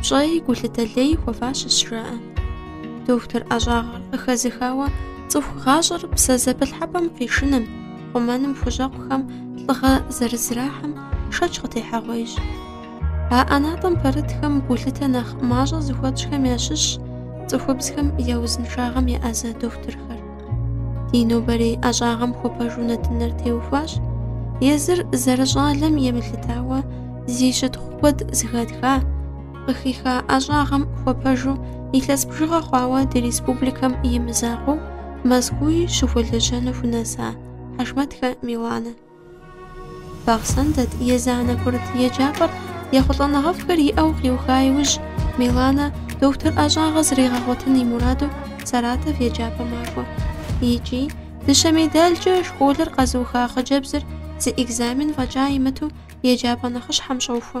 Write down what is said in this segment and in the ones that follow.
пщӏэи гулъытэ лей хуэфащэщ жаӏэ. Дохутыр ӏэщӏагъэр къыхэзыхауэ цӏыху гъащӏэр псэ зэпылъхьэпӏэм къишыным, хъумэным хущӏэкъухэм лӏыгъэ зэрызрахьэм шэч къытехьэгъуейщ. А ӏэнатӏэм пэрытхэм гулъытэ нэхъ мащӏэ зыхуэтщӏхэм ящыщщ цӏыхубзхэм я узыншагъэм еӏэзэ дохутырхэр. Ди нобэрей ӏэщӏагъэм хуэпэжу нэтыныр теухуащ. Езыр зэрыщӏалэм емылъытауэ зи щытхъу куэд зыхэтха, къыхиха ӏэщӏагъэм хуэпэжу илъэс бжыгъэ хъуауэ ди республикэм и мызакъуэу Мэзкууи щыхуэлэжьэну хунэса Хьэшмэтхэ Миланэ. Бахъсэн дэт езанэ курыт еджапӏэр ехъулӏэныгъэфӏхэр иӏэу къиуха иужь, Миланэ дохутыр ӏэщӏагъэ зригъэгъуэтын и мураду Саратов еджапӏэ макӏуэ. Икӏи, дыщэ медалкӏэ школыр къэзыуха хъыджэбзыр зы экзамен фӏэкӏа имыту еджапӏэ нэхъыщхьэм щӏохуэ.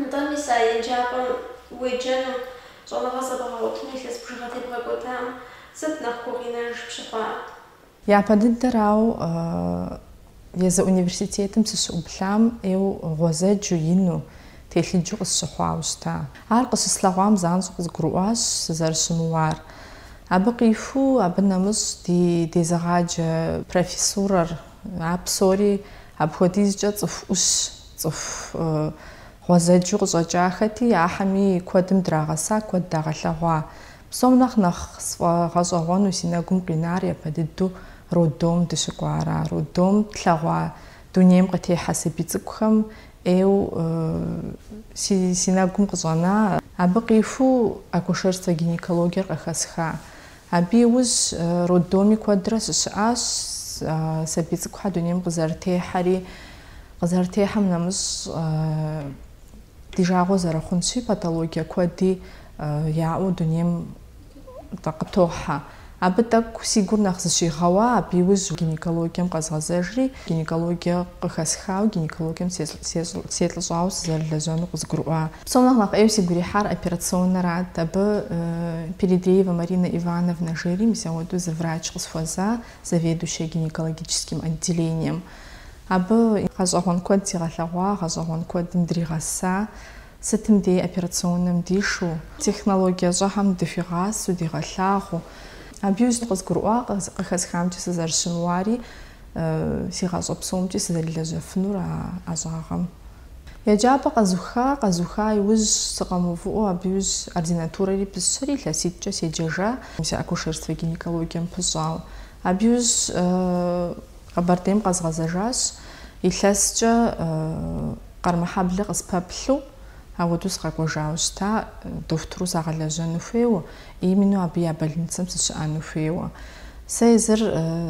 Нтӏэ, мис а еджапӏэм уеджэну, щӏэныгъэ зэбгъэгъуэтыну илъэс бжыгъэ тебгъэкӏуэдам сыт нэхъ гукъинэж пщыхъуар? Япэ дыдэрауэ, езы университетым сыщыӏуплъам ӏейуэ гъуэзэджу, ину, телъыджу къысщыхъуауэ щыта. Ар къыщыслъэгъуам занщӏэу къызгурыӏуащ сызэрыщымыуар. Абы къиху, абы нэмыщӏ ди дезыгъаджэ профессурэр, а псори апхуэдизкӏэ цӏыху ӏущ, Цӏыху гъуэзэджу къыщӏэкӏахэти, ахьэми куэдым драгъэса, куэд дагъэлъэгъуа. Псом нэхъ нэхъ сфӏэгъэщӏэгъуэну си нэгум къинар япэ дыдэу роддом дыщыкӏуара. Роддом тлъэгъуа дунейм къытехьэ сабий цӏыкӏухэм ӏейуэ си нэгум къыщӏэна, абы къиху акушерствэ-гинекологиер къыхэсха. Абы иужь роддоми куэдрэ сыщыӏащ, сабий цӏыкӏухэр дунейм къызэрытехьэри, къызэрытехьэм нэмыщӏ ди жагъуэ зэрыхъунщи, патологие куэди яӏэу дунейм къытохьэ. Абы тӏэкӏу си гур нэхъ зэщигъэуа, абы иужь гинекологием къэзгъэзэжри, гинекологие къыхэсхауэ, гинекологием селӏыщӏауэ сызэрылэжьэну къызгурыӏуа. Псом нэхъ нэхъ ӏейуэ сигу ирихьар операционнэрат. Абы Передреевэ Маринэ Ивановнэ жери мис ауэдэу зы врач къысхуэза, заведующая гинекологическим отделением. Абы гъэщӏэгъуэн куэд сигъэлъэгъуа, гъэщӏэгъуэн куэдым дригъэса, сытым дей операционнэм дишу, технологие щӏэхэм дыхуигъасэу, дигъэлъагъуу. Абы иужь къызгурыӏуа къыхэсхамкӏэ сызэрыщымыуари, си гъащӏэ псомкӏи сызэрилэжьэфынур а ӏэщӏагъэм. Еджапӏэ къэзуха, къэзуха иужь сыкъэмыувыӏуэу абы иужь ординатурэри пысщэри, илъэситӏкӏэ седжэжа, си акушерство гинекологием пыщӏауэ. Абы иужь Къэбэрдейм къэзгъэзэжащ, илъэскӏэ Къармэхьэблэ къыспэплъу, ауэдэу сыкъэкӏуэжауэ щыта, дохутыру сагъэлэжьэну хуейуэ, именно абы я больницэм сыщыӏэну хуейуэ. Сэ езыр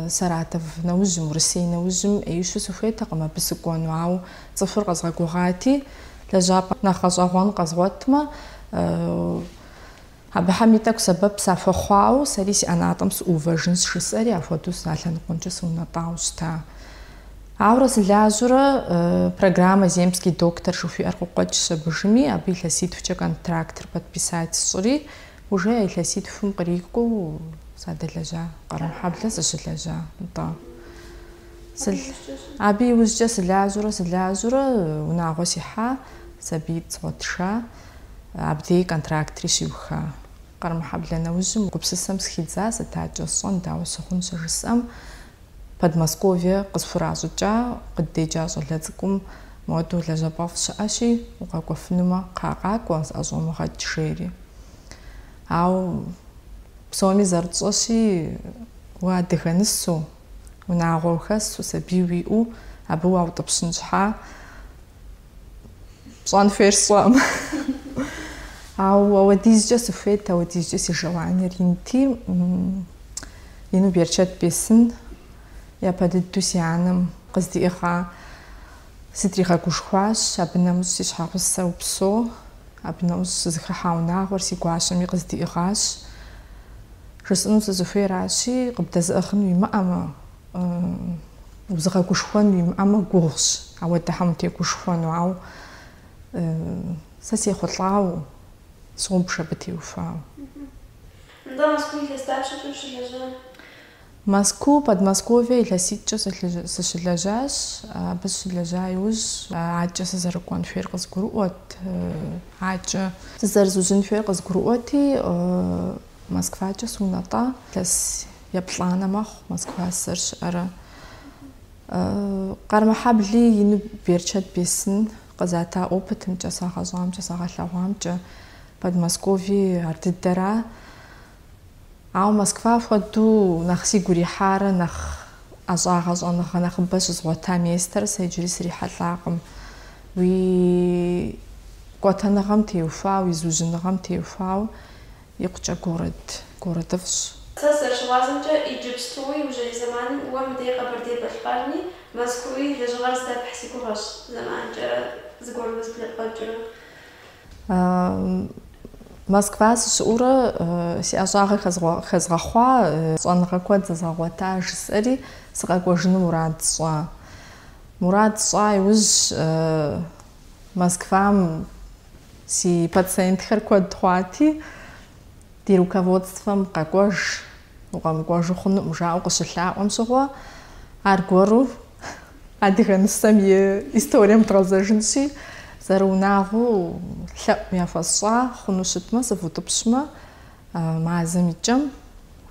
Саратов нэужьым, Урысей нэужьым ӏеищу сыхуейтэкъым абы сыкӏуэну, ауэ Цӏыхур къэзгъэгугъати, лэжьапӏэ нэхъ гъэщӏэгъуэн къэзгъуэтмэ, абыхэм и тӏэкӏу сэбэп сахуэхъуауэ, сэри си ӏэнатӏэм сыӏуувэжын сжысӏэри, апхуэдэу сэ а лъэныкъуэмкӏэ сыунэтӏауэ щыта. Ауэрэ сылажьэурэ программэ Земский доктор жыхуиӏэр къыкъуэкӏщ абыжми, абы илъэситхукӏэ контрактыр подписать сщӏыри, уже а илъэситхум кърикӏуэу садэлэжьа, Къармэхьэблэ сыщылэжьа нтӏэ. Абы иужькӏэ сылажьэурэ сылажьэурэ унагъуэ сихьа, сабиитӏ згъуэтыжа, абдей контрактри щиуха. Къармэхьэблэ нэужьым гупсысэм схидза, сыт акӏэ сщӏэн, дауэ сыхъун щыжысӏэм, Подмосковье къысхуращӏыкӏа, къыддеджа щӏалэ цӏыкӏум моуэдэу лэжьапӏэфӏ щыӏэщи, укъэкӏуэфынумэ, кхъа къакӏуэ, зыӏэщӏомыгъэкӏ, жери. Ауэ псоми зэрытщӏэщи, уэ адыгэ нысэу, унагъуэ ухэсу, сабий уиӏэу, абы уаутӏыпщын щхьа, пщӏэн хуейр сщӏэм. Ауэ ауэдизкӏэ сыхуейт, ауэдизкӏэ си желаниер инти, ину берычэт бесын, япэ дыдэу си анэм къыздиӏыгъа, сытригъэгушхуащ, абы нэмыщӏ си щхьэгъусэ, упсэу, абы нэмыщӏ сызыхыхьа унагъуэр си гуащэми къыздиӏыгъащ. Жысӏэну сызыхуейращи, къыбдэзыӏыгъын уимыӏэмэ, узыгъэгушхуэн уимыӏэмэ гугъущ ауэдэхэм утегушхуэну, ауэ сэ сехъулӏауэ собж абы теухуауэ. Нтӏэ, Мэзкуу илъэс дапщэкӏэ ущылэжьа? Мэзкуу, Подмосковье илъэситӏкӏэ сыщылэжьащ. Абы сыщылэжьа иужь акӏэ сызэрыкӏуэн хуейр къызгурыӏуэт, акӏэ зызэрызужьын хуейр къызгурыӏуэти, Москвакӏэ сунэтӏа. Илъэс еплӏанэ мэхъу Москва сызэрыщыӏэрэ. Къармэхьэбли ину берычэт бесын къызата опытымкӏэ, сагъэщӏамкӏэ, сагъэлъэгъуамкӏэ, Подмосковье ар дыдэра. Ауэ Москва хуэдэу нэхъ сигу ирихьарэ, нэхъ ӏэщӏагъэ щӏэныгъэ нэхъыбэ щызгъуэта местэр сэ иджыри срихьэлӏакъым. Уи кӏуэтэныгъэм теухуауэ, уи зыужьыныгъэм теухуауэ. Икъукӏэ город, городыфӏщ. Сэ сызэрыщыгъуазэмкӏэ, иджыпстуи, иужьрей зэманым уэ мыдей Къэбэрдей-Балъкъэрми, Мэзкууи лэжьыгъэр здэпхьу си гугъэщ, зэманымкӏэрэ зыгуэр узыблэпкъуэкӏыурэ. Москва сыщыӏуурэ си ӏэщӏагъэ хэзгъэхъуа, щӏэныгъэ куэд зэзгъэгъуэта жысӏэри, сыкъэкӏуэжыну мурад сщӏащ. Мурад сщӏа иужь, Москвам си пациентхэр куэд хъуати, ди руководствэм къэкӏуэж, укъэмыкӏуэжу хъунукъым жаӏэу къыщылъаӏуэм щыгъуэ, аргуэру адыгэ нысэм и историем дгъэзэжынщи, зэрыунагъуу лъэӏу яхуэсщӏа хъуну щытмэ, сывутӏыпщмэ, Мазэм и кӏэм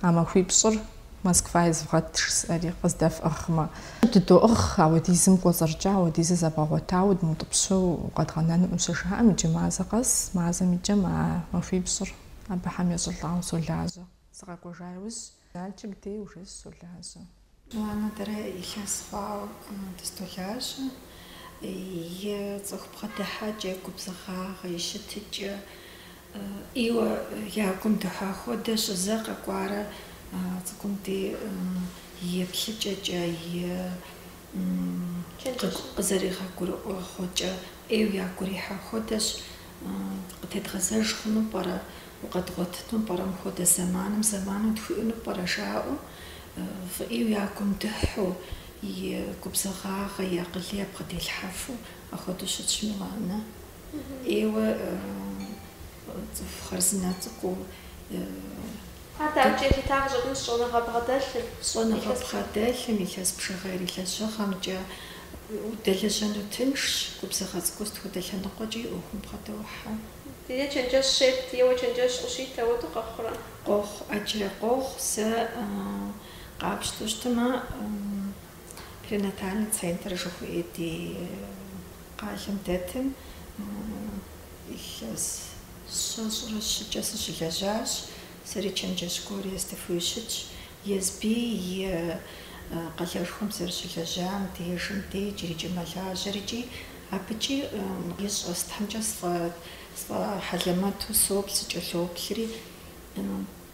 а махуипщӏыр Москва езывгъэт жысӏэри, къыздэфӏыгъмэ. Дыдоӏыгъ, ауэдизым кӏуэцӏэркӏэ ауэдизу зэбгъэгъуэтауэ дымыутӏыпщэу укъэдгъэнэнукъым щыжаӏэм, иджы мазэ къэс, мазэм и кӏэм а махуипщӏыр абыхэм ещӏылӏауэ солажьэ. Сыкъэкӏуэжа иужь. Налшык дей уже сыщолажьэ. Аннэ дэрэ илъэс хъуауэ дыздолажьэ. И цӏыху бгъэдыхьэкӏэ, губзыгъагъэ, и щытыкӏэ ӏейуэ я гум дыхьа хуэдэщ зэ къэкӏуарэ цӏыкӏум дей еплъыкӏэкӏэ, и къызэригъэгурыӏуэгъуэкӏэ ӏейуэ ягурихьа хуэдэщ. Къытедгъэзэж хъуну пӏэрэ, укъэдгъуэтыну пӏэрэ мыхуэдэ зэманым, зэману тхуиӏэну пӏэрэ жаӏэу, фӏы ӏейуэ я гум дыхьу, и губзыгъагъэ, и акъыл ябгъэделъхьэфу апхуэдэу щытщ мы Аннэ. ӏейуэ цӏыху хъарзынэ цӏыкӏуу. Ар дауэ кӏэлъыта къыщӏэкӏынщ щӏэныгъэ бгъэдэлъым? Щӏэныгъэ бгъэдэлъым, илъэс бжыгъэ и лэжьыгъэмкӏэ, Удэлэжьэну тыншщ, губзыгъэ цӏыкӏу сыт хуэдэ лъэныкъуэкӏи и ӏуэхум бгъэдохьэ. Е чэнджэщ ептрэ, е уэ чэнджэщ къыуиту, апхуэдэу къэхъурэ? Къохъу, ӏэджэ, къохъу, сэ къапщтэу щытмэ, перинатальный центр жыхуиӏэ ди къалэм дэтым, илъэс щэщӏрэ щыкӏэ сыщылэжьащ, сэри чэнджэщ гуэр естыфу щытщ, Езыри а къалэшхуэм зэрыщылэжьам дежым де иджырикӏи мэлажьэр икӏи абыкӏи и щӏэ сытхэмкӏэ сфӏэхьэлэмэту соплъ, сыкӏэлъоплъри.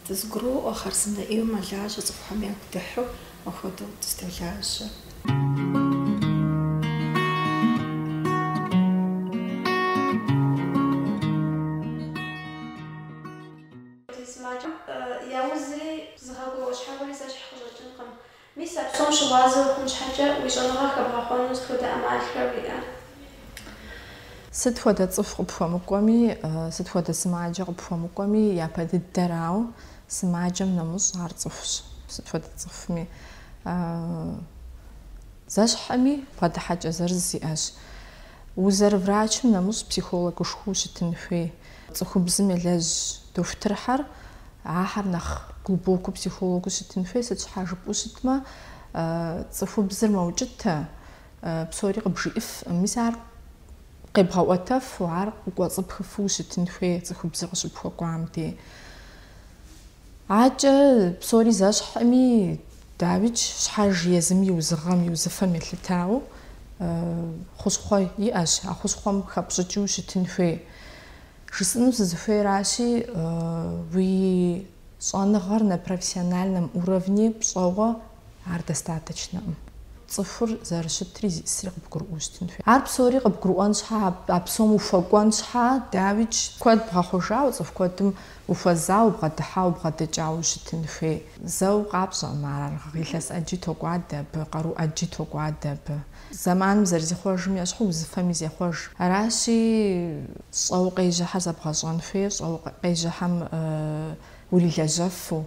Дызэгуроӏуэ хъарзынэ ӏейуэ мэлажьэ цӏыхухэм ягу дыхьу, апхуэдэу дыздолажьэ. Ди сымаджэм яузри, зыгъэгугъэ щхьэхуэри зэщхь къыщӏэкӏынкъым. Мис а псом щыгъуазэ ухъун щхьэкӏэ, уи щӏэныгъэ хэбгъэхъуэну сыт хуэдэ ӏэмалхэр уиӏэ? Сыт хуэдэ цӏыху къыпхуэмыкӏуэми, сыт хуэдэ сымаджэ къыпхуэмыкӏуэми, япэ дыдэрауэ, сымаджэм нэмыщӏ ар цӏыхущ, сыт хуэдэ цӏыхуми. Зэщхьэми, бгъэдыхьэкӏэ зырыз иӏэщ. Узэрыврачым нэмыщӏ психологышхуэу щытын хуей. Цӏыхубзым елэжь дохутырхьэр ахьэр нэхъ глубокэу психологыу щытын хуей, сыт щхьа жыпӏэу щытмэ, цӏыхубзыр мэукӏытэ, псори къыбжиӏыф, мис ар къебгъэӏуэтэфу, ар къыкӏуэцӏыпхыфу ущытын хуей цӏыхубзыр къыщыпхуэкӏуам дей. Акӏэ псори зэщхьми, дауикӏ щхьэж езым и узыгъэм, и узыфэм елъытауэ хущхъуэ иӏэщ, а хущхъуэм хэпщӏыкӏыу щытын хуей. Жысӏэну сызыхуейращи, уи щӏэныгъэр на профессиональном уровне пщӏэуэ Ар достаточнэӏым. Цӏыхур зэрыщытри зиӏысри къыбгурыӏуэу щытын хуей. Ар псори къыбгурыӏуэн щхьэ, а псом ухуэкӏуэн щхьэ, дауикӏ, куэд бгъэхъужауэ, цӏыху куэдым ухуэзауэ, убгъэдыхьауэ, убгъэдэкӏауэ щытын хуей. Зэу къапщӏэӏым ар. Ар илъэс ӏэджи токӏуадэ абы, къару ӏэджи токӏуадэ абы. Зэманым зэрызихъуэжым ещхьу, узыфэми зехъуэж. Аращи, щӏэуэ къежьэхьэр зэбгъэщӏэн хуей, щӏэуэ къежьэхьэм урилэжьэфу.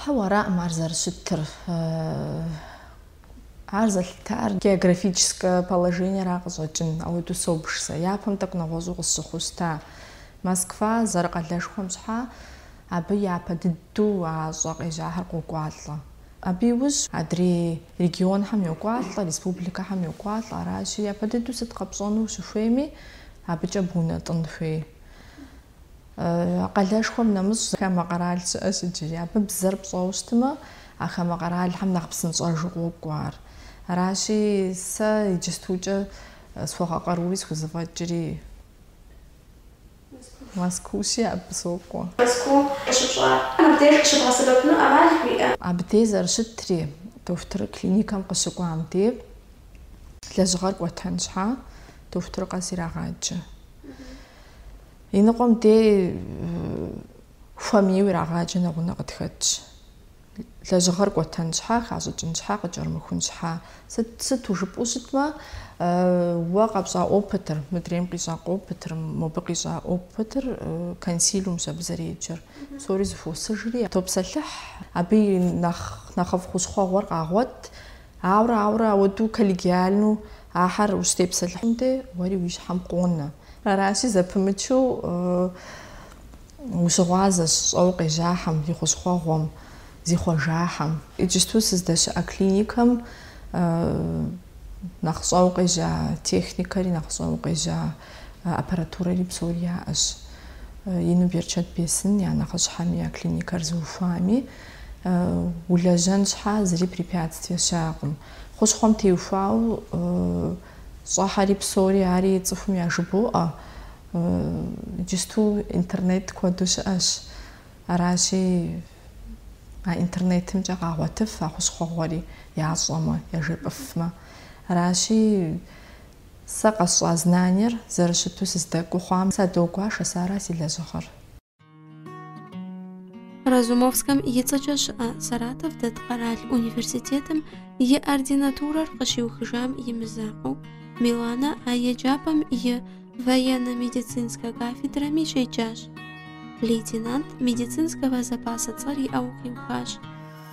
Хьэуэ, араӏым ар зэрыщытыр. Ар зэлъытар географическэ положениера къыщӏэкӏын, ауэду собж сэ. Япэм тӏэкӏу нэгъуэщӏу къысщыхъущта. Москва зэрыкъалэшхуэм щхьа, абы япэ дыдэу а щӏэ къежьахьэр къокӏуалӏэ. Абы иужь адрей регионхэм йокӏуалӏэ, республикэхэм йокӏуалӏэ. Аращи, япэ дыдэу сыт къэпщӏэну ущыхуейми, абыкӏэ бгъунэтӏын хуей. Къалэшхуэм нэмыщӏ хамэ къэрал щыӏэщ иджыри. Абы бзэр пщӏэуэ щытмэ, а хамэ къэралхэм нэхъ псынщӏэжу къокӏуэ ар. Аращи, сэ иджыстукӏэ схуэгъэкъарури схузэфӏэкӏри Мэзкуущи абы сокӏуэ. Мэзкуу къыщыпщӏар мыбдеж къыщыбгъэсэбэпыну ӏэмал уиӏэ? Абдей зэрыщытри, дохутыр клиникэм къыщыкӏуам дей лэжьыгъэр кӏуэтэн щхьа, дохутыр къэс ирагъаджэ. И ныкъуэм дей хуэмейуэ ирагъаджэ нэгъунэ къытхэтщ. Лэжьыгъэр кӏуэтэн щхьэ, хащӏыкӏын щхьэ, къыкӏэрымыхун щхьэ. Сыт, сыту жыпӏэу щытмэ, уэ къэпщӏа опытыр, мыдрейм къищӏа опытыр, мобы къищӏа опытыр консилиумщ абы зэреджэр. Псори зыхуосыжри, топсэлъыхь. Абы и нэхъ, нэхъыфӏ хущхъуэгъуэр къагъуэт. Ауэрэ, ауэрэ ауэду коллегиальну Ахэр ущытепсэлъыхьым де уэри уи щхьэм къонэ. Аращи, зэпымычу ущыгъуазэщ щӏэуэ къежьахьэм, и хущхъуэгъуэм, зихъуэжахьэм. Иджысту сыздэщыӏэ клиникэм нэхъ щӏэуэ къежьа техникэри, нэхъ щӏэуэ къежьа аппаратурэри псори яӏэщ. Ину берычэт бесын я нэхъыщхьэми, я клиникэр зыухуами, улэжьэн щхьа зыри препятствие щыӏэкъым. Хущхъуэм теухуауэ щӏэхьэри псори ари цӏыхум яжыбоӏэ. Иджысту интернет куэду щыӏэщ. Аращи, а интернетымкӏэ къагъуэтыф а хущхъуэгъуэри, ящӏэмэ, яжепӏыфмэ. Аращи, сэ къэсщӏа знаниер зэрыщыту сыздэкӏуэу хъуам садогуашэ, сэ ара си лэжьыгъэр. Разумовскэм и цӏэкӏэ щыӏэ Саратов дэт къэрал университетым и ординатурэр къыщиухыжам и мызакъуэу, Миланэ а еджапӏэм и военно-медицинскэ кафедрэми щеджащ. Лейтенант медицинского запаса цӏэр иӏэу къиухащ.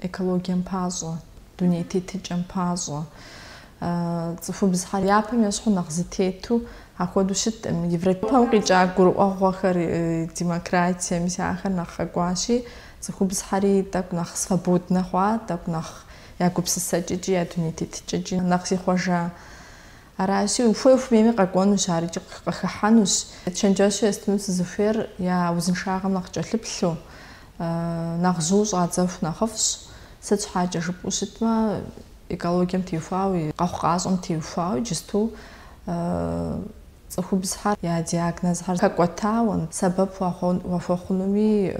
экологием пащӏэ, дуней тетыкӏэм пащӏэ, цӏыхубзхэр япэм ещхьу нэхъ зытету ахуэду щыткъым. Европэм къикӏа гурыӏуэгъуэхэр демократие мис ахэр нэхъ къэкӏуащи, цӏыхубзхэри тӏэкӏу нэхъ свободнэ хъуа, тӏэкӏу нэхъ я гупсысэкӏэкӏи, я дуней тетыкӏэкӏи нэхъ зихъуэжа. Аращи, ухуей-ухуэмейми къэкӏуэнущ ар икӏи къыхыхьэнущ. Чэнджэщу естыну сызыхуейр я узыншагъэм нэхъ кӏэлъыплъу, Нэхъ жьыу щӏадзэху нэхъыфӏщ, сыт щхьэкӏэ жыпӏэу щытмэ, экологием теухуауэ, къэхъукъащӏэм теухуауэ иджысту цӏыхубзхэр я диагнозхэр хэкӏуэтауэ, сэбэп уахуэхъунуми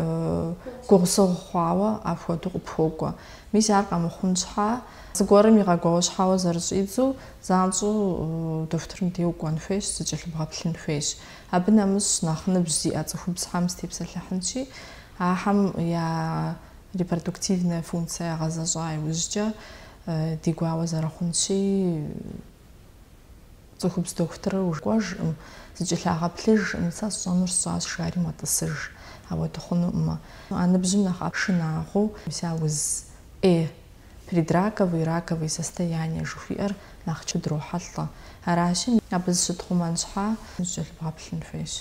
гугъусыгъу хъуауэ апхуэдэу къыпхуокӏуэ. Мис ар къэмыхъун щхьа, зыгуэрым игъэгуауэщхьэуэ зэрыщӏидзу, занщӏэу дохутырым де укӏуэн хуейщ, зыкӏэлъыбгъэплъын хуейщ. Абы нэмыщӏ нэхъ ныбжь зиӏэ цӏыхубзхэм степсэлъыхьынщи, ахэм я репродуктивная функция ягъэзэщӏа иужькӏэ ди гуауэ зэрыхъунщи, цӏыхубз дохутырыр укӏуэжкъым, зыкӏэлъагъэплъыжкъым, сэ сщӏэнур сщӏащ, жари мэтӏысыж. Ахуэду хъунукъым. А ныбжьым нэхъ шынагъуэу щыӏэ уз ӏей Предраковые и раковые состояния жыхуиӏэр нэхъ щыдрохьэлӏэ. Аращи, абы зыщытхъумэн щхьа, зыкӏэлъыбгъэплъын хуейщ.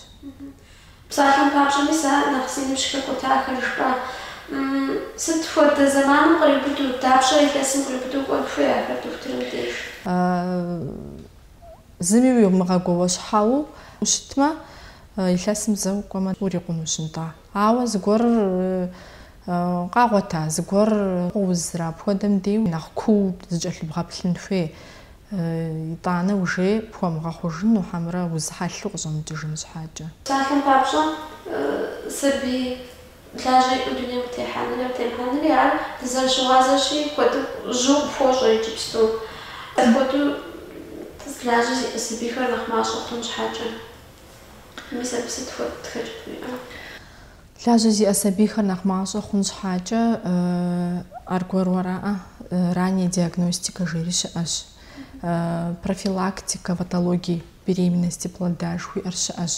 Псалъэм папщӏэ, мис а нэхъ зи ныбжь хэкӏуэтахэр жыпӏа? Сыт хуэдэ зэманым къриубыду, дапщэ илъэсым къриубыду кӏуэн хуей ахэр дохутырым деж? Зыми уимыгъэгуауэщхьэу ущытмэ, илъэсым зэ укӏуэмэ, урикъунущ, нтӏэ. Ауэ зыгуэр къагъуэта, зыгуэр къоузрэ, апхуэдэм дей нэхъ куу зыкӏэлъыбгъэплъын хуей. Итӏанэ иужькӏэ пхуэмыгъэхъужыну хьэмэрэ уз хьэлъэу къыщӏэмыкӏыжын щхьэкӏэ. Псалъэм папщӏэ, сабий лажьэ иӏэу дунейм къытехьэнри къытемыхьэнри ар дызэрыщыгъуазэщи куэду жьыу къыпхуощӏэ иджыпсту. Апхуэдэу лажьэ зиӏэ сабийхэр нэхъ мащӏэ хъун щхьэкӏэ. Мис абы сыт хуэдэ хэкӏыпӏэ иӏэ? Лажьэ зиӏэ сабийхэр нэхъ мащӏэ хъун щхьэкӏэ аргуэру араӏэ, ранняя диагностика жери щыӏэщ, профилактика патологий беременности плода жыхуиӏэр щыӏэщ.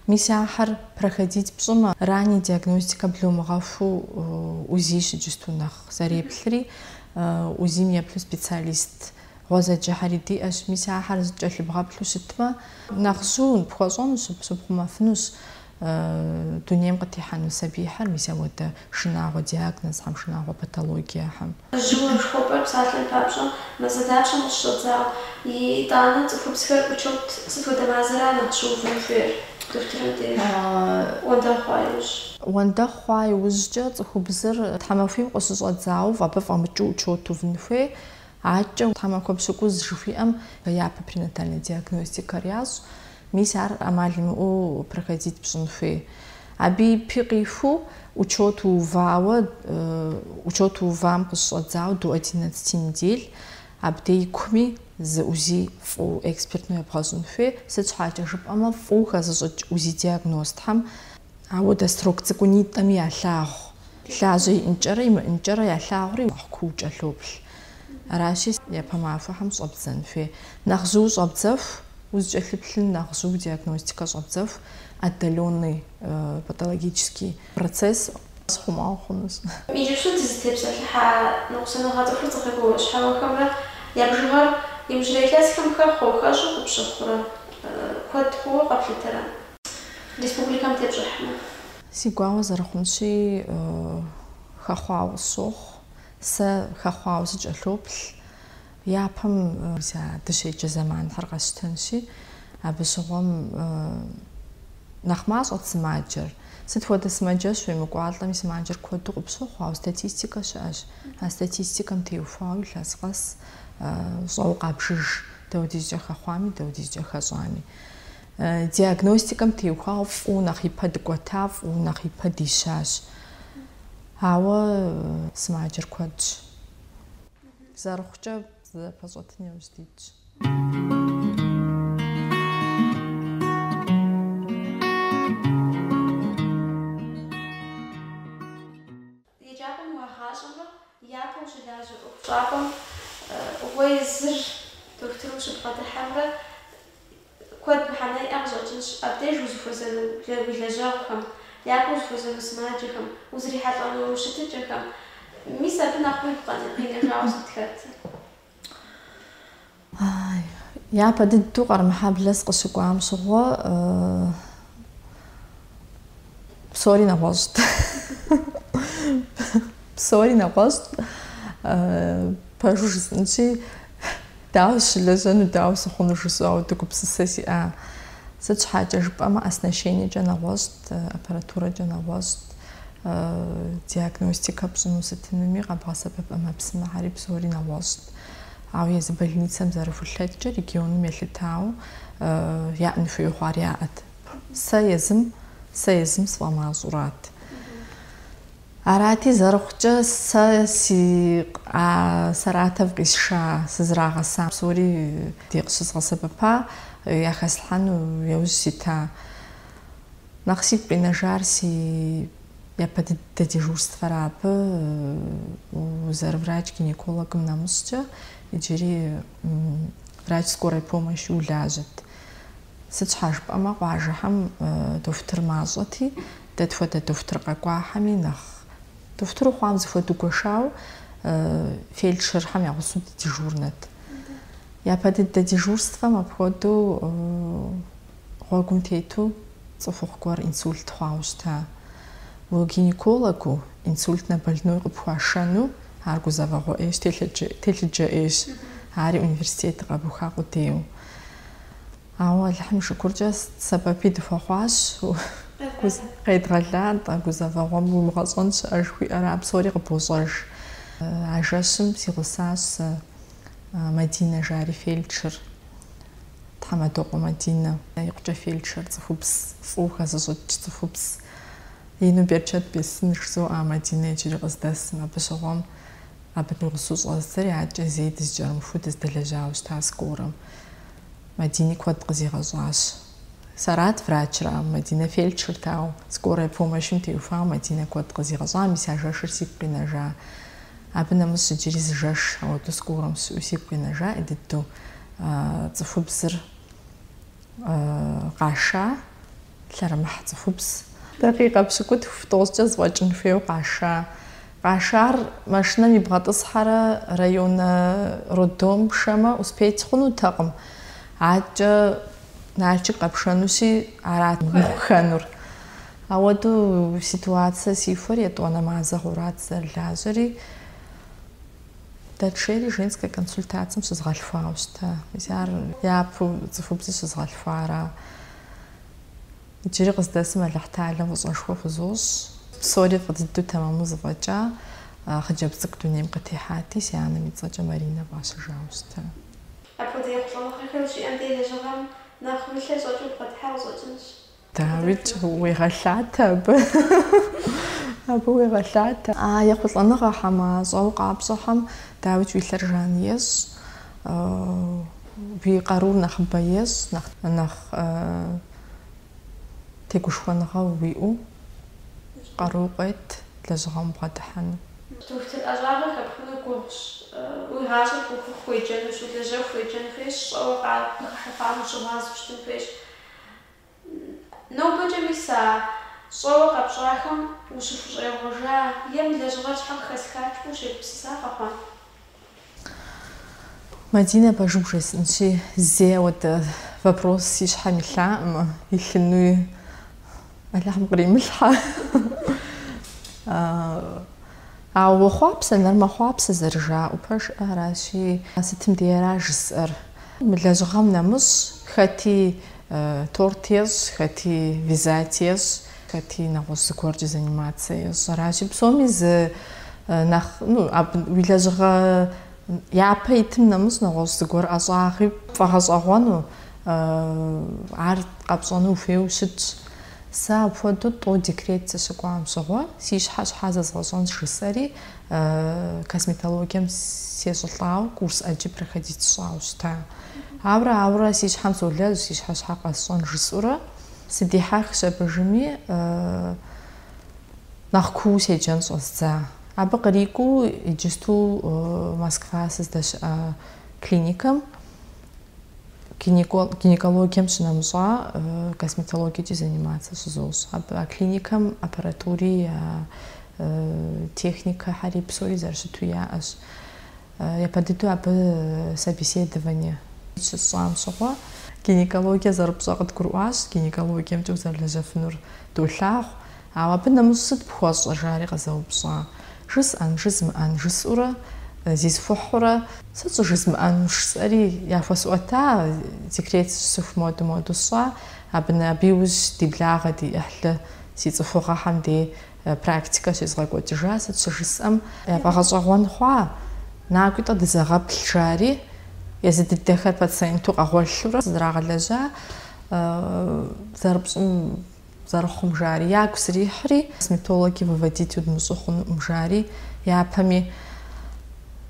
Мис ахэр проходить пщӏымэ, ранняя диагностика блумыгъэхуу УЗИщ иджысту нэхъ зэреплъри, УЗИм еплъу специалист Гъуэзэджэхэри диӏэщ, мис ахэр зыкӏэлъыбгъэплъу щытмэ, нэхъ жьыу пхуэщӏэнущ, щыпхъумэфынущ дунейм къытехьэну сабийхэр, мис ауэдэ шынагъуэ диагнозхэм, шынагъуэ патологиехэм. Жьыуэ жыхуэпӏэр псалъэм папщӏэ мазэ дапщэм къыщыщӏэдзауэ. Итӏанэ цӏыхубзхэр учет сыт хуэдэ мазэра нэхъ щыувын хуейр? Дохутырым деж уэндэгъу хъуа иужь. Уэндэгъу хъуа иужькӏэ цӏыхубзыр тхьэмахуийм къыщыщӏэдзауэ абы фӏэмыкӏыу учет увын хуей. Адэкӏэ тхьэмахуэ пщыкӏуз жыхуиӏэм япэ пренатальнэ диагностикэр ящӏ, мис ар ӏэмал имыӏэу проходить пщӏын хуей. Абы и пэ къихуэу учет уувауэ, учет уувам къыщыщӏэдзауэ до одиннадцати недель, абдей и куми зы УЗИ фӏыу экспертнэу ебгъэщӏын хуей, сыт щхьэкӏэ жыпӏэмэ фӏыу хэзыщӏыкӏ УЗИ диагностхьэм Ауэдэ срок цӏыкӏунитӏэми ялъагъу, лажьэ иӏынкӏэрэ имыӏынкӏэрэ ялъагъури нэхъ куу кӏэлъоплъ. Аращи, япэ махуэхэм щӏэбдзэн хуей. Нэхъ жьыу щӏэбдзэху, узкӏэлъыплъын нэхъ жьыу диагностикэ щӏэбдзэху, отдаленный патологический процесс щыхъума хъунущ. Иджыпсту дызытепсэлъыхьа ныкъусаныгъэ цӏыхур ӏуэхугъуэ щхьэхуэхэмрэ я бжыгъэр иужьрей илъэсхэм хэхъуэу, хэщӏу къыпщыхъурэ, куэд хъууэ къэплъытэрэ? республикэм тепщӏыхьмэ. Си гуауэ зэрыхъунщи, хэхъуауэ сщохъу. Сэ хэхъуауэ сыкӏэлъоплъ. Япэм сэ дыщеджа зэманхэр къэсщтэнщи, абы щыгъуэм нэхъ мащӏэт сымаджэр. Сыт хуэдэ сымаджэщ уемыкӏуалӏэми, сымаджэр куэду къыпщохъу, ауэ статистикэ щыӏэщ. А статистикэм теухуауэ илъэс къэс щӏэуэ къабжыж, даудизкӏэ хэхъуами, даудизкӏэ хэщӏами. Диагностикэм теухуауэ фӏыуэ нэхъ ипэ дыкӏуэта, фӏыуэ нэхъ ипэ дищащ. Ауэ сымаджэр куэдщ. Зэрыхъукӏэ зэпэщӏэтын яужь дитщ. Еджапӏэм уагъащӏэмэ, япэу щылажьэ ӏуэхущӏапӏэм уэ езыр дохутыру ущыбгъэдыхьэмрэ, куэд мыхьэнэ иӏэ къыщӏэкӏынщ абдеж узыхуэзэну уи лэжьэгъухэм, япэу узыхуэзэну сымаджэхэм, узрихьэлӏэну щытыкӏэхэм. Мис абы нэхъ уигу къинэжауэ сыт хэтыр? Япэ дыдэу Къармэхьэблэ сыкъыщыкӏуам щыгъуэ псори нэгъуэщӏт. Псори нэгъуэщӏт. Пэжу жысӏэнщи, дауэ сыщылэжьэну, дауэ сыхъуну жысӏэу дыгупсысэ сиӏа. Сыт щхьэкӏэ жыпӏэмэ, оснащениекӏэ нэгъуэщӏт, аппаратурэкӏэ нэгъуэщӏт. Диагностикэ пщӏыну сытынуми къэбгъэсэбэп ӏэмэпсымэхьэри псори нэгъуэщӏт. Ауэ езы больницэм зэрыхулъэкӏкӏэ регионым елъытауэ яӏэн хуейуэ хъуар яӏэт. Сэ езым, сэ езым сфӏэмащӏурат. Арати, зэрыхъукӏэ, сэ си а Саратов къисша, сызрагъэса псори ди къыщызгъэсэбэпа, яхэслъхьэну яужь сита. Нэхъ сигу къинэжар си япэ дыдэ дежурствэра. Абы, узэрыврач-гинекологым нэмыщӏкӏэ, иджыри врач скорой помощи улажьэт. Сыт щхьа жыпӏэмэ, къуажэхэм дохутыр мащӏэти, дэ тхуэдэ дохутыр къэкӏуахэми нэхъ дохутыру хъуам зэхуэдэу гуэшауэ фельдшерхэм ягъусэу дыдежурнэт. Япэ дыдэ дежурствэм апхуэдэу Гъуэгум тету цӏыхухъу гуэр инсульт хъуауэ щыта. Уэ гинекологу инсультнэ больной къыпхуашэну ар гузэвэгъуэ ӏейщ, телъыджэ ӏейщ, ари университетыр къэбуха къудейуэ. Ауэ Алыхьым и шыкуркӏэ сэбэпи дыхуэхъуащ, къедгъэла, гузэвэгъуэм уимыгъэщӏэн щыӏэ жыхуиӏэра, псори къыбощӏэж. А жэщым си гъусащ сэ Мадинэ жари фельдшер. Тхьэмадокъуэ Мадинэ. Икъукӏэ фельдшер цӏыхубз фӏыуэ хэзыщӏыкӏ цӏыхубз ину берчэт бесын жызоӏэ Мадинэ иджыри къыздэсым. Абы щыгъуэм абы ди гъусэу щӏэздзэри адэкӏэ зэи дызэкӏэрымыхуу дыздэлэжьауэ щыта скорэм. Мадини куэд къызигъэщӏащ. Сэрат врачыр, а Мадинэ фельдшерт, ауэ скорой помощым теухуауэ Мадинэ куэд къызигъэщӏа, мис а жэщыр сигу къинэжа. Абы нэмыщӏ иджыри зы жэш ауэдэу скорэм щыӏэу сигу къинэжа, ӏей дыдэу цӏыхубзыр къаша, лъэрымыхь цӏыхубз. Дакъикъэ пщыкӏутху тӏощӏкӏэ зэфӏэкӏын хуейуэ къаша. Къашар машинэм ибгъэтӏысхьэрэ районэ роддом пшэмэ, успеть хъунутэкъым. Адэкӏэ Налшык къэпшэнущи, арат мыхъуххэнур. Ауэдэу ситуацие сихуэри етӏуанэ мазэ хъурат зэрылажьэри, дэтшейри женскэ консультацэм щызгъэлъхуауэ щыта. Мис ар япэу цӏыхубзыр щызгъэлъхуара? Иджыри къыздэсым Алыхьталэм фӏыщӏэшхуэ хузощӏ. Псори фӏы дыдэу тэмэму зэфӏэкӏа хъыджэбз цӏыкӏу дунейм къытехьати, си анэм и цӏэкӏэ Маринэ фӏащыжауэ щыта. Апхуэдэ ехъулӏэныгъэхэр щиӏэм де лэжьыгъэм нэхъ уи лъэ щӏэкӏыу убгъэдыхьэ къыщӏэкӏынщ. Дауикӏ, уегъэлъатэ абы. Абы уегъэлъатэ. А ехъулӏэныгъэхэм, а щӏэуэ къапщӏэхэм дауикӏ уи лъэр жан ещӏ, уи къарур нэхъыбэ ещӏ, нэхъ нэхъ тегушхуэныгъэ уиӏэу къару къует лэжьыгъэм убгъэдыхьэну. Дохутыр ӏэщӏагъэ хэпхыну гугъущ. Уи гъащӏэр ухыху уеджэнущ, улэжьэху уеджэн хуейщ, щӏэуэ къа къыхыхьэхуам ущыгъуазэу щытын хуейщ. Нобэкӏэ мис а щӏэуэ къэпщӏахэм ущыхущӏегъуэжа е мы лэжьыгъэр щхьэ къыхэсхат ущегупсыса къэхъуа? Мадинэ пэжу бжесӏэнщи, зэи ауэдэ вопрос си щхьэм илъаӏым, илъынуи Алыхьым къримылъхьэ. Ауэ хъуапсэ, нэр мэхъуапсэ зэрыжаӏэу пэжыр аращи, сытым деяра жысӏэр? Мы лэжьыгъэм нэмыщӏ хэти торт ещӏ, хэти визаж ещӏ, хэти нэгъуэщӏ зыгуэркӏэ заниматься ещӏ. Аращи, псоми зы нэхъ, ну, абы уи лэжьыгъэ япэ итым нэмыщӏ нэгъуэщӏ зыгуэр ӏэщӏагъи пфӏэгъэщӏэгъуэну, ар къэпщӏэну ухуейуэ ущытщ. Сэ апхуэдэу тӏу декрет сыщыкӏуам щыгъуэ, си щхьэ щхьэ зэзгъэщӏэнщ жысӏэри, косметологием сещӏылӏауэ курс ӏэджи проходить сщӏауэ щыта. Ауэрэ, ауэрэ си щхьэм солэжь, си щхьэ щхьэ къэсщӏэн жысӏэурэ, сыдихьэхщ абы жыми, нэхъ куууэ седжэн щӏэздза. Абы кърикӏуэу иджысту Москва сыздэщыӏэ клиникэм Гинекологием щынэмыщӏа косметологиекӏи заниматься щызощӏ. Абы а клиникэм аппаратури, техникэхьэри, псори зэрыщыту яӏэщ. Япэ дыдэу абы собеседование щысщӏам щыгъуэ, гинекологие зэрыпщӏэр къыдгурыӏуащ, гинекологиемкӏэ узэрылэжьэфынур долъагъу. Ауэ абы нэмыщӏ сыт пхуэщӏэ? жари къызэупщӏа. Жысӏэн, жызмыӏэн, жысӏурэ, зисхухьурэ. Сыт щӏыжызмыӏэн? Жысӏэри, яхуэсӏуэта, декрет сыщыӏэху моду-моду сщӏа, абы нэ, абы иужь ди благъэ, ди ӏыхьлы, си цӏыхугъэхэм дей практикэ щезгъэкӏуэкӏыжа, сыт щыжысӏэм, яфӏэгъэщӏэгъуэн хъуа. Накӏуи-тӏэ дызэгъэплъ, жари, езы дыдэхэр пациенту къэгъуэлъурэ, сызрагъэлэжьа зэрыпщӏым. Зэрыхъум жари, ягу срихьри, косметологи выводить удмыщӏу хъунукъым жари, япэми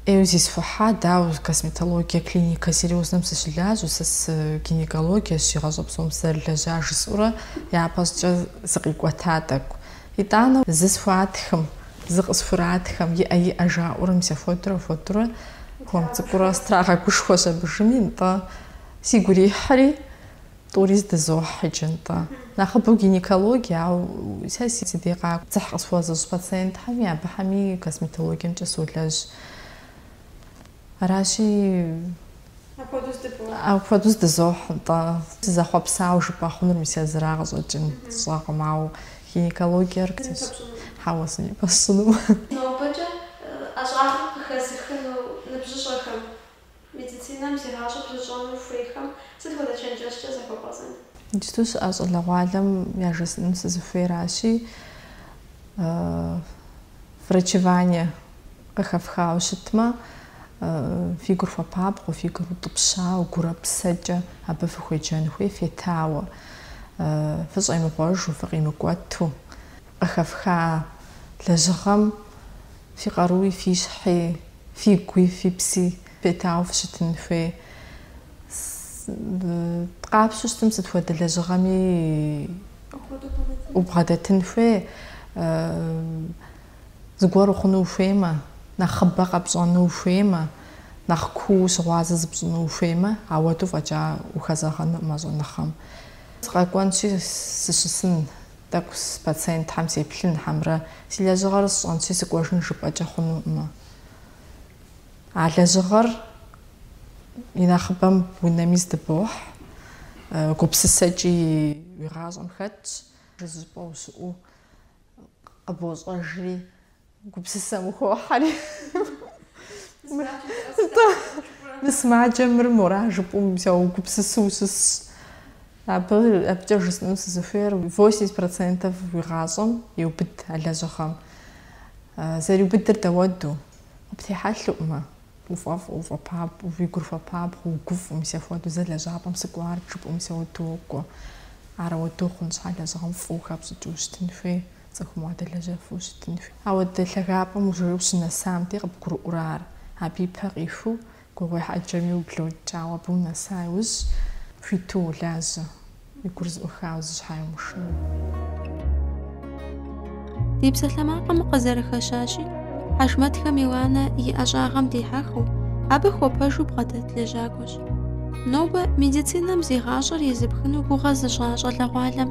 ӏейуэ зисхухьа, дауэ, косметологие клиникэ серьезнэм сыщылажьэу, сэ гинекологиещ си гъащӏэ псом сызэрылэжьар, жысӏэурэ япэщӏыкӏэ сыкъикӏуэта тӏэкӏу. Итӏанэ зы схуатхым, зы къысхуратхэм, иӏэ иӏэ жаӏэурэ мис апхуэдурэ апхуэдурэ хуэм цӏыкӏуурэ страгъэгушхуэщ абы жыми, нтӏэ, сигу ирихьри, Тӏури здызохь иджы, нтӏэ. Нэхъыбэу гинекологие, ауэ сэ си дей къакӏуэ дзыхь къысхуэзыщӏ пациентхэми, абыхэми косметологиемкӏэ солэжь. Аращи, апхуэдэу здызохь, нтӏэ. Сызэхъуэпсауэ жыпӏэ хъунур мис езыра къыщӏэкӏын сщӏэкъым, ауэ гинекологиер хьэуэ зыми пэсщӏыну. Нобэкӏэ ӏэщӏагъэм къыхэзыхыну ныбжьыщӏэхэм Медицинэм зи гъащӏэр пызыщӏэну хуейхэм сыт хуэдэ чэнджэщкӏэ захуэбгъэзэн? Иджыпсту щыӏэ щӏалэгъуалэм яжесӏэну сызыхуейращи, врачевание къыхэфхауэ щытмэ, фи гур хуэпабгъэу, фи гур утӏыпщауэ, гурэ-псэкӏэ абы фыхуеджэн хуей фетауэ, фыщӏемыгъуэжу, фыкъимыкӏуэту. Къыхэфха лэжьыгъэм фи къаруи, фи щхьи, фи гуи, фи пси фетауэ фыщытын хуей. Къапщтэу щытым сыт хуэдэ лэжьыгъэми убгъэдэтын хуей, зыгуэр ухъуну ухуеймэ, нэхъыбэ къэпщӏэну ухуеймэ, нэхъ куу щыгъуазэ зыпщӏыну ухуеймэ, ауэду фӏэкӏа ухэзэгъэнукъым а щӏэныгъэм. Сыкъэкӏуэнщи, сыщысын. Тӏэкӏу си пациентхэм сеплъын, хьэмрэ си лэжьыгъэр сщӏэнщи сыкӏуэжын жыпӏэкӏэ хъунукъымэ. А лэжьыгъэр и нэхъыбэм унэми здыбохь, гупсысэкӏи уи гъащӏэм хэтщ, зыщӏыпӏэ ущыӏэу къыбощӏэжри Гупсысэм ухохьэри. Мы сымаджэм мыр мора жыпӏэу угупсысу ущысщ. Абы абыкӏэ жысӏэну сызыхуейр 80 процентов уи гъащӏэм еубыд а лэжьыгъэм. Зэриубыдыр дауэду, къыптехьэлъуӏымэ, уфӏэфӏу, уфӏэпабгъу, уи гур хуэпабгъу, угуфӏу, мис апхуэдэу зэ лэжьапӏэм сыкӏуар жыпӏэу мис ауэду уокӏуэ. Ар ауэду хъун щхьа лэжьыгъэм фӏыуэ хэпщӏыкӏыу щытын хуей. Цӏыхум уадэлэжьэфу щытын хуей. Ауэдэ лъагапӏэм уже ущынэсам де, къыбгурыӏуэрэ ар? Абы и пэ къихыу, гугъуехь ӏэджэми ублокӏ, ауэ абы унэса иужь, хуиту уолажьэ, уи гур зэӏухауэ зы щхьаи умышынэу. Ди псалъэмакъым къызэрыхэщащи, Хьэжмэтхэ Миланэ и ӏэщӏагъэм дихьэхыу, абы хуэпэжу бгъэдэт лэжьакӏуэщ. Нобэ медицинэм зи гъащӏэр езыпхыну гугъэ зыщӏа щӏалэгъуалэм